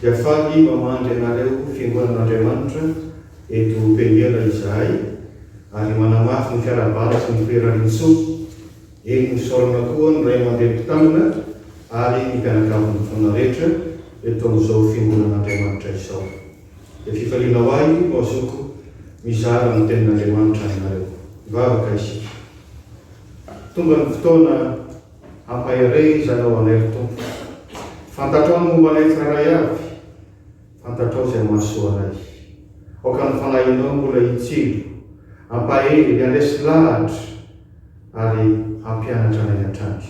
Dia faly mamangy anareo fiangonan'Andriamanitra eto Peniel izahay ary manamafy ny fiarahabana sy ny firarian-tsoa. Eny misaorana koa ny Ray aman-dReny Mpitandrina ary ny mpianakavy mifona rehetra eto amin'izao fiangonan'Andriamanitra izao. Dia fifaliana ho ahy no azoko mizara ny tenin'Andriamanitra aminareo. Hivavaka isika. Tonga ny fotoana. Hampaherezanao anay ry Tompo. Fantatrao ny momba anay tsirairay avy. Fantatrao izay mahasoa anay. Aoka ny Fanahinao mbola hitsilo, hampahery, handresy lahatra ary hampianatra anay hatrany.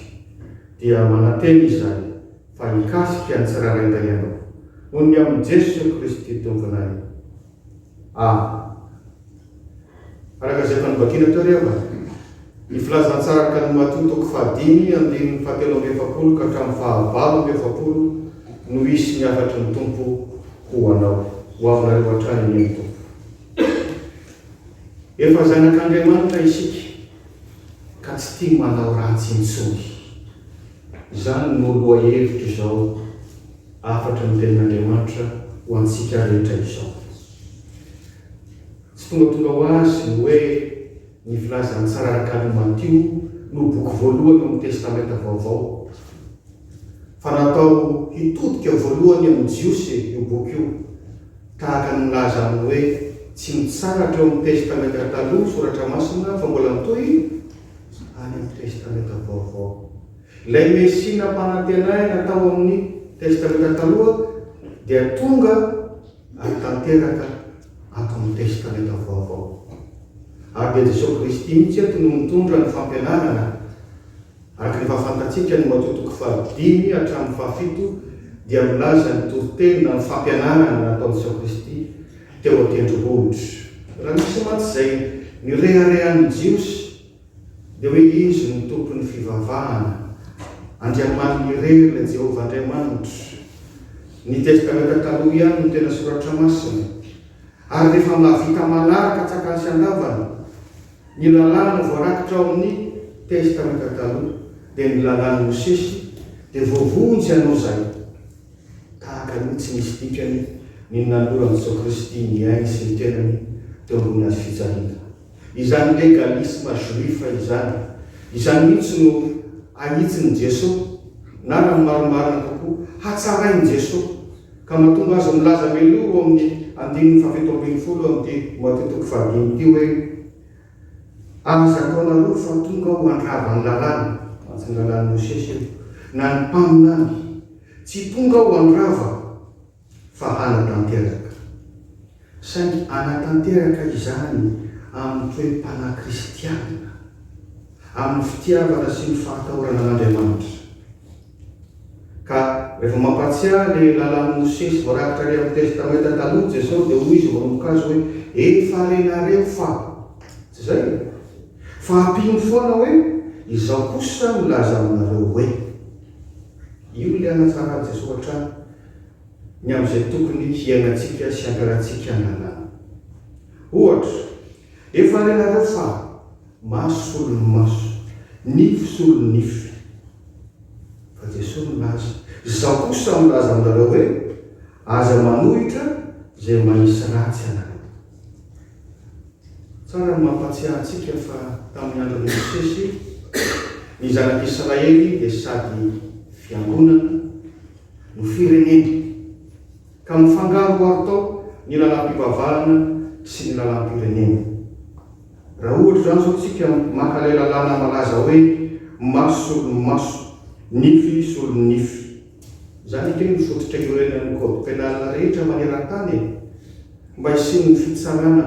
Dia manantena izahay fa hikasika ny tsirairay tahianao. Ho ny amin'i Jesoa Kristy Tomponay. A. Araka izay efa novakina teo reva, ny filazantsarak'i an'i Matio toko fahadimy andininy fahatelo amby efapolo ka hatramin'ny fahavalo amby efapolo no hisy ny hafatry ny Tompo ho anao, ho aminareo hatrany anie ny Tompo. Efa zanak'Andriamanitra isika ka tsy tia manao ratsy intsony. Izany no lohahevitr'izao. hafatra ny Tenin'Andriamanitra ho antsika rehetra izao. Tsy tongatonga ho azy ny hoe ny Filazan'ny Sararakan'i Matio no boky voalohany ao amin'ny Testamenta Vaovao, fa natao hitodika voalohany amin'ny Jiosy io boky io, tahaka ny milaza amin'ny hoe tsy mitsahatra eo amin'ny Testamenta Taloha ny Soratra Masina fa mbola mitohy any amin'ny Testamenta Vaovao. Ilay Mesia nampanantenaina tao amin'ny Testamenta Taloha dia tonga ary tanteraka ato amin'ny Testamenta Vaovao. Ary dia Jesoa Kristy mihitsy eto no mitondra ny fampianarana. Araka ny fahafantantsika ny Matio toko fahadimy hatramin'ny fahafito dia milaza ny toriteny na ny fampianarana nataon'i Jesoa Kristy teo an-tendrombohitra. Raha misy mantsy izay nirehareha ny Jiosy, Dia hoy izy, Ny Tompon'ny fivavahana, Andriamaniny irery ilay Jehovah Andriamanitra. Ny Testamenta Taloha ihany no tena soratra masina. Ary rehefa mba vita manaraka tsakany sy andavany ny lalàna voarakitra ao amin'ny Testamenta Taloha, dia ny lalàn'i Mosesy, dia voavonjy hanao izay. Tahaka ny hoe tsy nisy dikany ny nanoloran'i Jesoa Kristy ny ainy sy ny tenany teo ambony hazofijaliana. izany legalisme juif izany. Izany mihitsy no ahitsin'i Jesoa, na raha ny marimarina kokoa, hatsarain'i Jesoa, ka mahatonga azy milaza meloa ao amin'ny andininy fahafito ambin'ny folo amin'ity Matio toko fahadimy ity hoe, Aza ataonareo fa tonga aho handrava ny lalàna, mantsy ny lalàn'i Mosesy io, na ny mpaminany, tsy tonga aho handrava fa hanatanteraka. Saingy hanatanteraka izany amin'ny toe-panahy kristianina, amin'ny fitiavana sy ny fahatahorana an'Andriamanitra. Ka rehefa mampahatsiahy ilay lalàn'i Mosesy voarakitra ary amin'ny Testamenta Taloha Jesosy dia hoy Izy manomboka Azy hoe, Efa renareo fa. Tsy izay e? Fa ampiany foana hoe, Izaho kosa milaza aminareo hoe. Io ilay hanatsaran'i Jesosy hatrany. ny amin'izay tokony hiainantsika sy hankalantsika any an-dàlana. Ohatra, efa renareo fa maso solon'ny maso, nify solon'ny nify. Fa Jesoa milaza, Izaho kosa milaza aminareo hoe, Aza manohitra izay manisy ratsy anareo. Tsara ny mampahatsiahy antsika fa tamin'ny andron'i Mosesy, ny zanak'Israely dia sady fiangonana no firenena, ka mifangaroharo tao ny lalam-pivavahana sy ny lalam-pirenena. Raha ohatra izany izao tsika maka ilay lalàna malaza hoe maso solon'ny maso, nify solon'ny nify. Izany ange no fototra iorenan'ny code pénal rehetra maneran-tany e! Mba hisian'ny fitsarana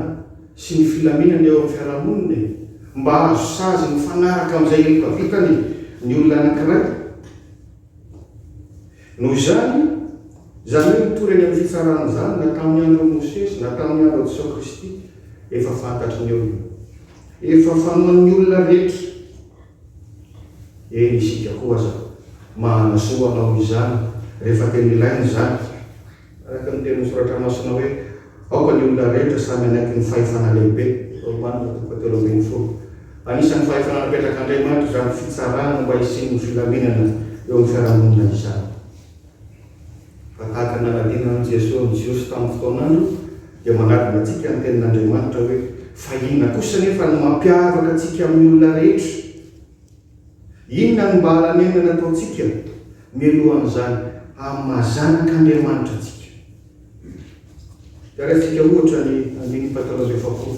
sy ny filaminana eo amin'ny fiarahamonina e! Mba hahazo sazy mifanaraka amin'izay heloka vitany ny olona anankiray. Noho izany, izany hoe mitory any amin'ny fitsarana izany na tamin'ny andron'i Mosesy na tamin'ny andron'i Jesoa Kristy, efa fantatry ny olona. Efa fanoan'ny olona rehetra. Eny isika koa aza mahana soa hanao izany rehefa tena ilaina izany. Araka ny tenin'ny Soratra Masina hoe, Aoka ny olona rehetra samy hanaiky ny fahefana lehibe. Romanina toko fahatelo ambin'ny folo. Anisan'ny fahefana napetrak'Andriamanitra izany fitsarana mba hisian'ny filaminana eo amin'ny fiarahamonina izany. Raha tahaka ny nanadinana an'i Jesoa ny Jiosy tamin'ny fotoan'androny, dia manadina antsika ny tenin'Andriamanitra hoe, Fa inona kosa anefa no mampiavaka antsika amin'ny olona rehetra? Inona no mba halanenana ataontsika mialohan'izany haha-maha zanak'Andriamanitra antsika? Jeretsika ohatra ny andininy fahatelo amby efapolo,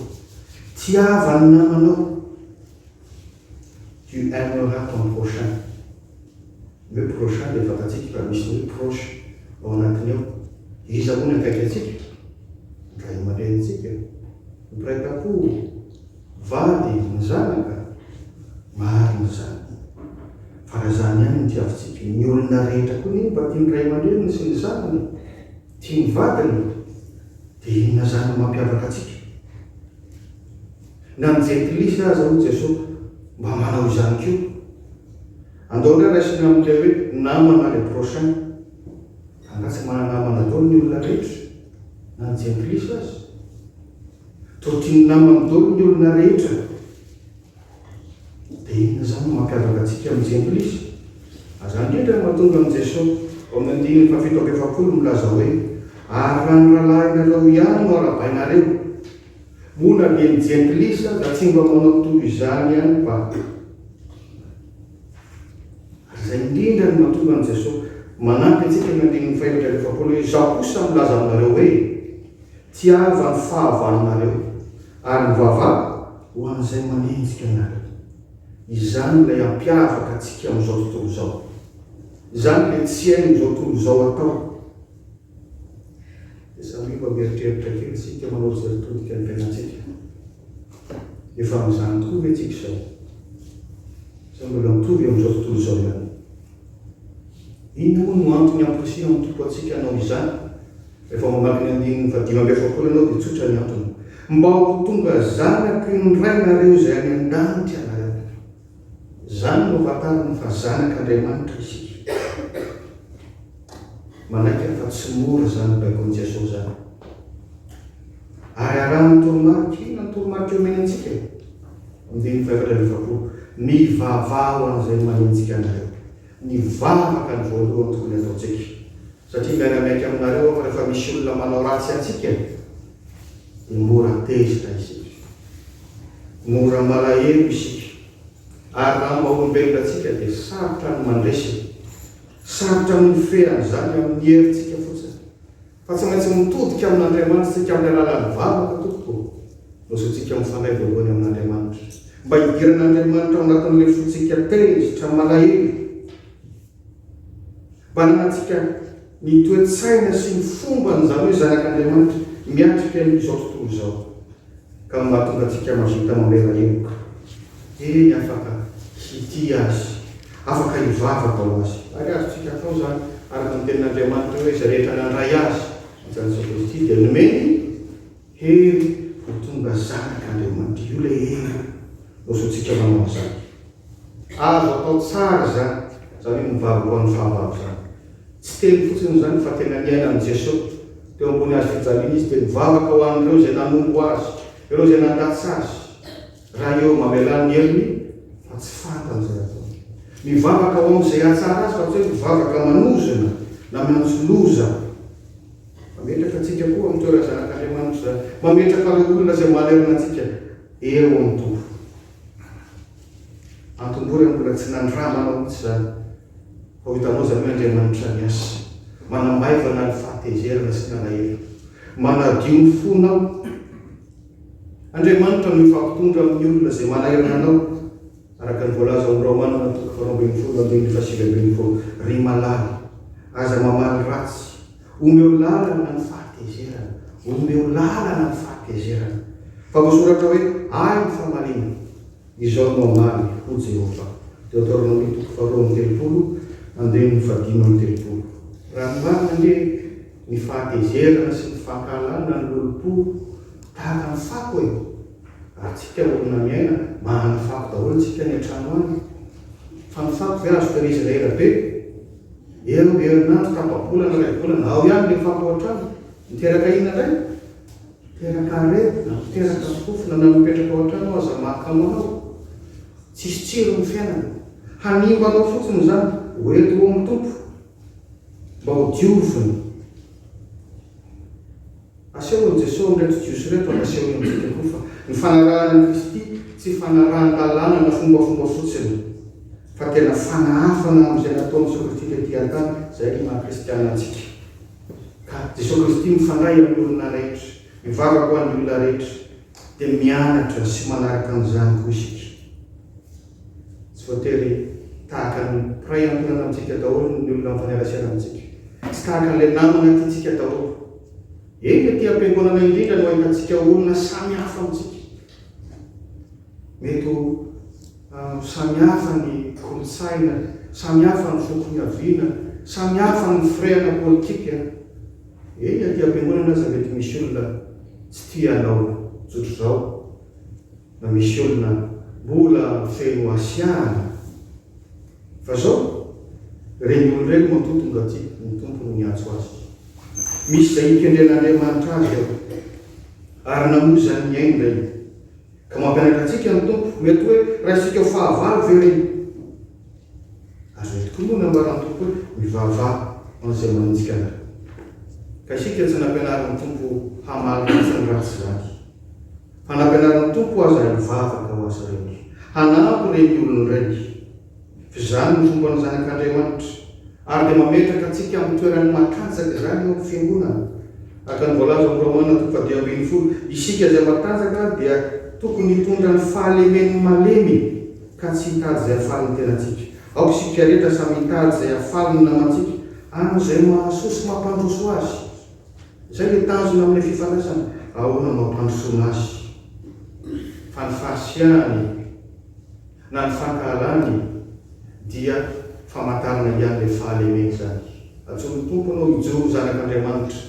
Tiava ny namanao, Tu aimeras ton prochain. Ny hoe prochain dia fantatsika fa misy ny hoe proche ao anatiny ao. Iza moa ny akaiky antsika? Ny ray aman-drenintsika? Ny mpiray tampo? Va dia ny zanaka? Marina izany. Fa raha izany ihany no tiavintsika, ny olona rehetra koa anie mba tian'ny ray aman-dreniny sy ny zanany, tia ny vadiny, dia inona izany no mampiavaka antsika? Na ny jentilisa aza, hoy Jesosy, mba manao izany koa. Andao indray raisina amin'ilay hoe namana, le prochain. Angaha tsy mana-namana daholo ny olona rehetra, na ny jentilisa aza? Toa tian'ny namany dolo ny olona rehetra e! Dia inona izany no mampiavaka antsika amin'ny Jempolisy? Aza handrindra ny mahatonga amin'i Jeso ao amin'ny andininy fahafito amby efapolo milaza hoe, Ary raha ny rahalahinareo ihany no arabainareo, moa na dia ny Jempilisy aza tsy mba manao toy izany ihany ba! Ary izay indrindra no mahatonga an'i Jeso manampy antsika amin'ny andininy fahefatra amby efapolo hoe, Izaho kosa milaza aminareo hoe, Tiava ny fahavalonareo, ary ny vavako ho an'izay manenjika anareo. Izany ilay hampiavaka antsika amin'izao tontolo izao. Izany ilay tsy hain'izao tontolo izao atao. Dia samy mba mieritreritra kely isika manao izay todika ny tenantsika. Efa amin'izany koa ve tsika izao? Sa mbola mitovy amin'izao tontolo izao ihany? Inona moa no antony hamporisihan'ny Tompo antsika hanao izany? Rehefa mamaky ny andininy fahadimy amby efapolo ianao dia tsotra ny antony, Mba ho tonga zanako indray nareo izay any an-danitra nareo. Izany no ahafantarany fa zanak' Andriamanitra isika. Manaiky aho fa tsy mora izany nobaikoin'i Jesoa izany. Ary arahan'ny toromarika, inona ny toromarika omeny antsika? Amin'ny dimy fahefatra amby efapolo, Mivavaha ho an'izay manenjika anareo. Ny vavaka no voalohany tokony hataontsika. Satria miara-miaiky aminareo aho fa rehefa misy olona manao ratsy antsika, Mora tezitra isika. Mora malahelo isika. Ary raha mba olombelona tsika dia sarotra ny mandresy e. Sarotra ny mifehy an'izany amin'ny herintsika fotsiny. Fa tsy maintsy mitodika amin'Andriamanitra isika amin'ny alalan'ny vavaka tompoko ô. Nosintsika mifandray voalohany amin'Andriamanitra. Mba hidiran'Andriamanitra ao anatin'ilay fontsika tezitra, malahelo. Mananantsika ny toe-tsaina sy ny fomban' izany hoe zanak' Andriamanitra miatrika an' izao tontolo izao, ka mahatonga antsika mahavita mamela heloka, eny, afaka hitia Azy, afaka hivavaka ho Azy, ary azontsika atao izany, araka ny tenin' Andriamanitra hoe, Izay rehetra nandray Azy, Jesoa Kristy, dia nomeny. Hery vao tonga zany ka de madio le hery mosy tsika manao anzany azo atao tsara zany zany hoe mivavy ho an'ny fahavalo zany tsy teny fotsiny zany fa tena niainan'i Jeso teo ambony hazo fijaliana izy de mivavaka ho an'ireo izay nanompo azy ireo izay nandatsa azy raha eo mamelà ny heriny fa tsy fantany zay ataony mivavaka ho amin'izay hahatsara azy fa tsy hoe mivavaka manozona na miantso loza Mametraka antsika koa amin'ny toeran'ny zanak' Andriamanitra izany. Mametraka ireo olona izay malerona antsika eo amin'ny Tompo. Antombohy raha mbola tsy nandramana mihitsy izany fa ho hitanao izany hoe Andriamanitra miasa, manamaivana ny fahatezerana sy ny alahelo, manadio ny fonao. Andriamanitra no hifampitondra amin'ny olona izay manahirana anao Araka ny voalaza ao amin'ny Raomanina toko faharoa ambin'ny folo andininy fahasivy ambin'ny folo, Ry malala, aza mamaly ratsy. Omeo lalana ny fahatezerana. Omeo lalana ny fahatezerana. Fa voasoratra hoe, Ahy ny famaliana. Izao no hamaly, hoy Jehovah. Deoteronomia toko faharoa amby telopolo andininy fahadimy amby telopolo. Raha ny marina ange, Ny fahatezerana sy ny fankahalana ny lolompo tahaka ny fako e! Raha tsika olona miaina, manana fako daholo tsika any an-trano any. Fa ny fako ve azo tehirizina ela be? Eo herinandro, tapa-bolana, iray volana, ao ihany ilay fako ao an-trano. Miteraka inona indray? Miteraka aretina, miteraka fofona na mipetraka ao an-trano aza mahakamo anao. Tsisy tsiro ny fiainana. Hanimba anao fotsiny izany. Ho ety ho amin'ny Tompo. Mba ho dioviny. Aseho an'i Jesoa amin'ireto Jiosy ireto ary asehony amintsika koa fa ny fanarahana an'i Kristy tsy fanarahan-dalàna na fombafomba fotsiny fa tena fanahafana amin'izay nataon'i Jesoa Kristy tety an-tany, izay no maha kristiana antsika. Ka Jesoa Kristy mifandray amin'ny olona rehetra, mivavaka ho an'ny olona rehetra, dia mianatra sy manaraka an'izany koa isika. Tsy voatery tahaka ny mpiray ankolana amintsika daholo ny olona mifaneraserana amintsika. Tsy tahaka an'ilay namana tiantsika daholo. Eny, ety am-piangonana indrindra no ahitantsika olona samy hafa amintsika. Mety ho samy hafa ny kolontsaina, samy hafa ny foko niaviana, samy hafa ny firehana politika. Eny, aty am-piangonana aza mety misy olona tsy tia anao zotr'izao. na misy olona mbola feno hasiahana fa zao reny olona reny matoa tonga aty ny Tompo no miantso azy misy zay hikendren'Andriamanitra azy ao ary namoa izany ny ainy reny ka mampianatra antsika ny Tompo mety hoe raisintsika ho fahavalo ve reny ary mety koa moa nambaran'ny Tompo hoe mivavaha an'izay manenjika anareo ka isika tsy nampianarin'ny Tompo hamaly ratsy ny ratsy zany Fa nampianarin'ny Tompo aza hivavaka ho azy ireny, hanampy ireny olona ireny. Fa izany no fomban'ny Zanak'Andriamanitra, ary dia mametraka antsika amin'ny toerany matanjaka izany eo amin'ny Fiangonana. Araka ny voalaza ao amin'ny Romana toko fahadimy ambin'ny folo, isika izay matanjaka dia tokony hitondra ny fahalemen'ny malemy ka tsy hitady izay hahafaly ny tenantsika. Aoka isika rehetra samy hitady izay hahafaly ny namantsika, amin'izay mahasoa sy mampandroso azy. Izay ilay tanjona amin'ilay fifandraisana. Ahoana no hampandrosoana azy? Fa ny fahasiahany na ny fankahalany dia famantarana ihany ilay fahalemeny izany. Antsoin'ny Tompo anao hijoro ho zanak'Andriamanitra.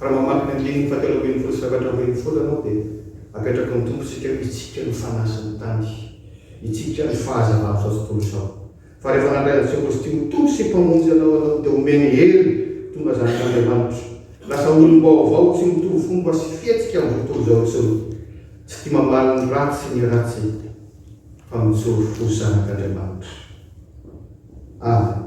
Raha mamaky ny andininy fahatelo ambin'ny folo sy efatra ambin'ny folo ianao dia apetraky ny Tompo isika hoe hitsika ny fanahy sy ny tany, hitsika ny fahazavany izao tontolo izao. Fa rehefa nandray an'i Jehovah sy tia ho Tompo sy Mpamonjy anao ianao, dia omeny hery tonga zanak'Andriamanitra. Lasa olom-baovao tsy mitovy fomba sy fihetsika amin'izao tontolo izao intsony. Tsy tia mamaly ny ratsy sy ny ratsy, fa mijoro ho zanak'Andriamanitra. Amen.